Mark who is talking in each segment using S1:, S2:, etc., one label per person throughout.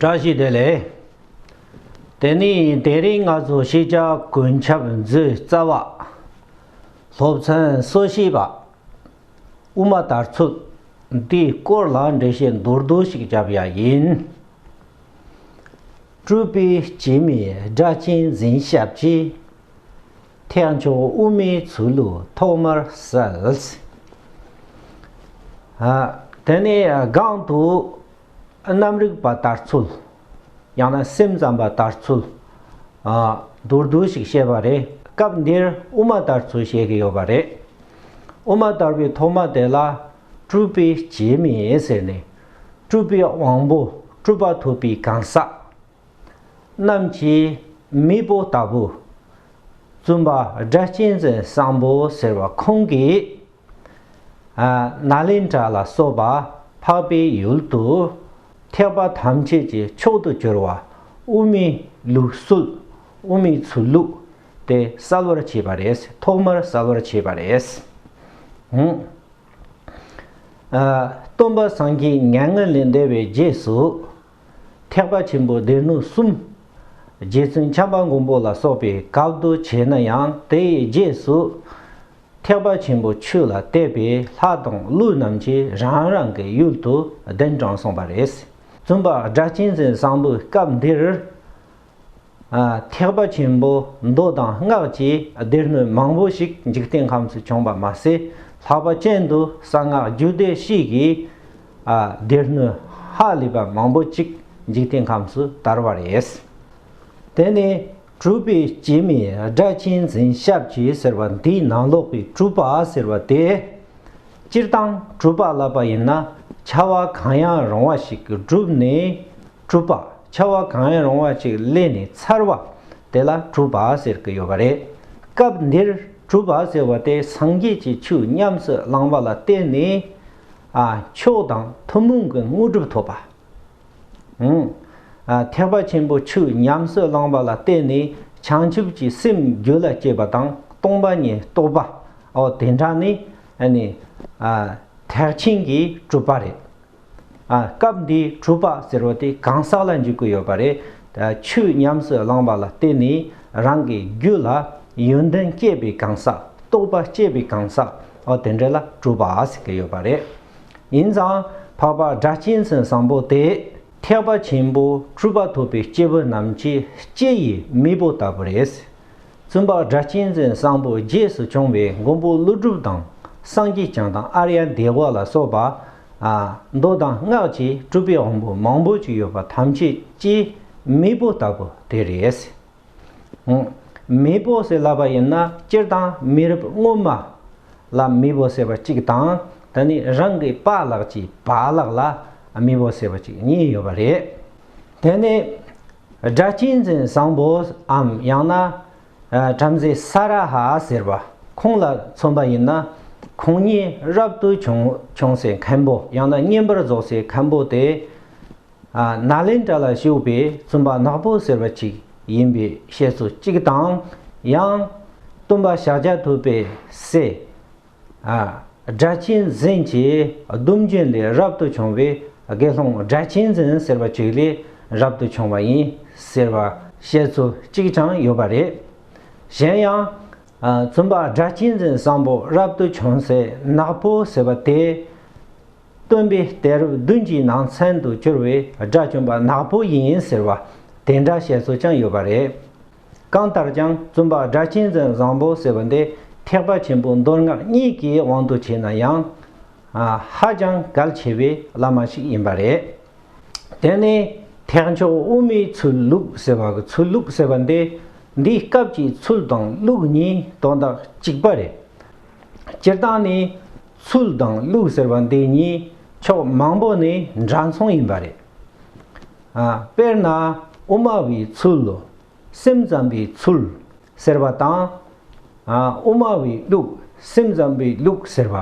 S1: བཀྲ་ཤིས་བདེ་ལེགས། དེ་ནས་དེ་རིང་ང་ཚོ་ཤེས་བྱ་གོས་ཆབ་མཛོད་རྩ་བ། སློབ་ཚན་གསོ་བྱེད་པ། དབུ་མ་དར་ཚུགས་འདིའི་སྐོར་ལ་འགྲེལ་བཤད་མདོར་བསྡུས་ཤིག་བརྒྱབ་ཡ་ཡིན། སྤྲུལ་པའི་སྐྱེས་མའི་སྒྲ་གཅན་འཛིན་ཞབས་ཀྱིས་ཐེག་མཆོག་དབུ་མའི་ཚུལ་ལུགས་ཐོག་མར་གསལ། དེ་ནས་སྒང་དུ། རྣམ་རིག་པ་དར་ཚུལ། ཡང་ན་སེམས་ཙམ་པ་དར་ཚུལ། མདོར་བསྡུས་ཤིག་བཤད་པ་རེད། སྐབས་འདིར་དབུ་མ་དར་ཚུལ་བཤད་ཀྱི་ཡོད་པ་རེད། དབུ་མ་དར་བའི་ཐོག་མ་དེ་ལ་སྤྲུལ་པའི་རྗེས་མི་ཡིན་ཟེར་ནས་སྤྲུལ་པའི་དབང་པོ་སྤྲུལ་པ་ཐུབ་པའི་གང་ཟག་རྣམས་ཀྱིས་མི་བོ་ལྟ་བུ། བཙུན་པ་སྒྲ་གཅན་འཛིན་བཟང་པོ་ཟེར་བ་ཁོང་གིས། ན་ལེན་དྲ་ལ་སོགས་པ་འཕགས་པའི་ཡུལ་དུ་ཐེག་པ་ཐམས་ཅད་ཀྱི་མཆོག་ཏུ་གྱུར་བ་དབུ་མའི་ལུགས་སྲོལ་དབུ་མའི་ཚུལ་ལུགས་དེ་གསལ་བར་བྱས་པ་རེད་ཐོག་མར་གསལ་བར་བྱས་པ་རེད། སྟོན་པ་སངས་རྒྱས་མྱ་ངན་ལས་འདས་པའི་རྗེས་སུ་ཐེག་པ་ཆེན་པོའི་སྡེ་སྣོད་གསུམ་རྗེ་བཙུན་བྱམས་པ་མགོན་པོ་ལ་སོགས་པའི་སྐབས་འདུ་བྱས་ན་ཡང་དེའི་རྗེས་སུ་ཐེག་པ་ཆེན་པོ་ཆོས་ལ་གཏད་པའི་ལྷ་དང་ཀླུ་རྣམས་ཀྱིས་རང་རང་གི་ཡུལ་དུ་གདན་དྲངས་གསུངས་པ་རེད། བཙུན་པ་སྒྲ་གཅན་འཛིན་བཟང་པོས་སྐབས་འདིར། ཐེག་པ་ཆེན་པོ་མདོ་དང་སྔགས་ཀྱི་སྡེ་སྣོད་མང་པོ་ཞིག་འཇིག་རྟེན་ཁམས་སུ་བྱུང་བ་མ་ཟད་ལྷག་པ་ཅན་དུ་གསང་སྔགས་རྒྱུད་སྡེ་གཤིས་ཀྱི་སྡེ་སྣོད་ཧ་ལས་པ་མང་པོ་ཅིག་འཇིག་རྟེན་ཁམས་སུ་དར་བ་རེད། དེ་ནི་གྲུབ་པའི་སྐྱེ་མེད་སྒྲ་གཅན་འཛིན་ཞབས་ཀྱིས་ཟེར་བ་འདིའི་ནང་ལོག་པའི་གྲུབ་པ་ཟེར་བ་དེ། སྤྱིར་བཏང་གྲུབ་པ་ལབ་པ་ཡིན་ན་ཆ་བ་གང་ཡང་རུང་བ་ཞིག་བསྒྲུབས་ནས་གྲུབ་པ་ཆ་བ་གང་ཡང་རུང་བ་ཅིག་གླས་ནས་ཚར་བ་དེ་ལ་གྲུབ་པ་ཟེར་གྱི་ཡོད་པ་རེད། སྐབས་འདིར་གྲུབ་པ་ཟེར་བ་དེ་སངས་རྒྱས་ཀྱི་ཆོས་ཉམས་སུ་བླང་བ་ལ་བརྟེན་ནས། མཆོག་དང་ཐུན་མོང་གི་དངོས་གྲུབ་ཐོབ་པ། ཐེག་པ་ཆེན་པོ་ཆུ་ཉམས་སུ་བླངས་པ་ལ་བརྟེན་ནས་བྱང་ཆུབ་ཀྱི་སེམས་རྒྱུད་ལ་སྐྱེས་པ་དང་སྟོང་པ་ཉིད་རྟོགས་པ་འོ་དེ་འདྲ་ནི་ཐེག་ཆེན་གྱི་གྲུབ་པ་རེད། སྐབས་འདིའི་གྲུབ་པ་ཟེར་བ་དེ་གང་ཟག་ལ་འཇུག་གི་ཡོད་པ་རེད། ཆུ་ཉམས་སུ་བླངས་པ་ལ་བརྟེན་ནས་རང་གི་རྒྱུད་ལ་ཡོན་ཏན་སྐྱེས་པའི་གང་ཟག་རྟོགས་པ་སྐྱེས་པའི་གང་ཟག་འོ་དེ་འདྲ་ལ་གྲུབ་པ་ཟེར་གྱི་ཡོད་པ་རེད། ཡིན་ཙང་འཕགས་པ་སྒྲ་གཅན་ཟན་བཟང་པོ་སྟེ་ཐེག་པ་ཆེན་པོ་སྤྲུལ་པ་ཐོབ་པའི་སྐྱེས་བུ་རྣམས་ཀྱི་ལྕེ་ཡི་མིག་བུ་ལྟ་བུ་རེད། བཙུན་པ་སྒྲ་གཅན་ཟན་བཟང་པོ་རྗེས་སུ་བྱུང་བའི་མགོན་པོ་ཀླུ་སྒྲུབ་དང་སངས་རྒྱས་བྱང་དང་ཨར་ཡ་འདས་གོ་ལ་སོགས་པ། མདོ་དང་སྔགས་ཀྱི་སྤྲུལ་པའི་དབང་པོ་མང་པོ་ཅི་ཡོད་པ་ཐམས་ཅད་ལྕེའི་མིག་བུ་ལྟ་བུ་དེ་རེད། མེས་པོ་ཟེར་ལབ་པ་ཡིན་ན་སྤྱིར་བཏང་མི་རབས་སྔོན་མ་ལ་མི་བོ་ཟེར་བ་གཅིག་དང་ད་ནི་རང་གི་པ་ལགས་ཀྱི་བ་ལགས་ལ་མི་བོ་ཟེར་བ་གཅིག་གཉིས་ཡོད་པ་རེད། དེ་ནི་སྒྲ་གཅན་འཛིན་བཟང་པོའམ་ཡང་ན་བྲམ་ཟེ་ས་ར་ཧ་ཟེར་བ་ཁོང་ལ་མཚོན་པ་ཡིན་ན་ཁོང་ཉིད་རབ་ཏུ་བྱུང་སའི་མཁན་པོ་ཡང་ན་བསྙེན་པར་རྫོགས་སའི་མཁན་པོ་དེ། ནཱ་ལེནྡྲ་ལ་བཞུགས་པའི་བཙུན་པ་ནག་པོ་ཟེར་བ་ཅིག་ཡིན་པའི་བཤད་སྲོལ་གཅིག་དང། ཡང། སྟོན་པ་ཤཱཀྱ་ཐུབ་པའི་སྲས། སྒྲ་གཅན་འཛིན་གྱི་གདུང་རྒྱུད་ལས་རབ་ཏུ་བྱུང་བའི་དགེ་སློང་སྒྲ་གཅན་འཛིན་ཟེར་བ་ཅིག་ལས་རབ་ཏུ་བྱུང་བ་ཡིན་ཟེར་བ་བཤད་སྲོལ་གཅིག་ཀྱང་ཡོད་པ་རེད། གཞན་ཡང། བཙུན་པ་སྒྲ་གཅན་འཛིན་བཟང་པོ་རབ་ཏུ་བྱུང་སའི་ནག་པོ་ཟེར་བ་དེ། སྟོན་པས་དེར་བདུན་གྱི་ནང་ཚན་དུ་གྱུར་བའི་དགྲ་བཅོམ་པ་ནག་པོ་ཡིན་ཟེར་བ་དེ་འདྲ་བཤད་སྲོལ་ཀྱང་ཡོད་པ་རེད། གང་ལྟར་ཀྱང་བཙུན་པ་སྒྲ་གཅན་འཛིན་བཟང་པོ་ཟེར་བ་འདི་ཐེག་པ་ཆེན་པོའི་མདོ་སྔགས་གཉིས་ཀྱི་དབང་དུ་བྱས་ན་ཡང། ཧ་ཅང་གལ་ཆེ་བའི་བླ་མ་ཞིག་ཡིན་པ་རེད། དེ་ནས་ཐེག་མཆོག་དབུ་མའི་ཚུལ་ལུགས་ཟེར་བ་གི་ཚུལ་ལུགས་ཟེར་བ་འདི་འདིའི་སྐབས་ཀྱི་ཚུལ་དང་ལུགས་གཉིས་དོན་དག་གཅིག་པ་རེད། སྤྱིར་བཏང་ནས་ཚུལ་དང་ལུགས་ཟེར་བ་འདི་གཉིས་ཕྱོགས་མང་པོ་ནས་འདྲ་མཚུངས་ཡིན་པ་རེད། དཔེར་ན་དབུ་མ་བའི་ཚུལ། སེམས་ཙམ་པའི་ཚུལ། ཟེར་བ་དང། དབུ་མ་བའི་ལུགས་སེམས་ཙམ་པའི་ལུགས་ཟེར་བ་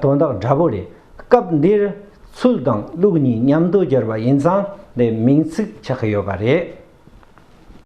S1: དོན་དག་འདྲ་པོ་རེད། སྐབས་འདིར་ཚུལ་དང་ལུགས་གཉིས་མཉམ་དུ་སྦྱར་བ་ཡིན་ཙང་དེ་མིང་ཚིག་ཆགས་ཡོད་པ་རེད།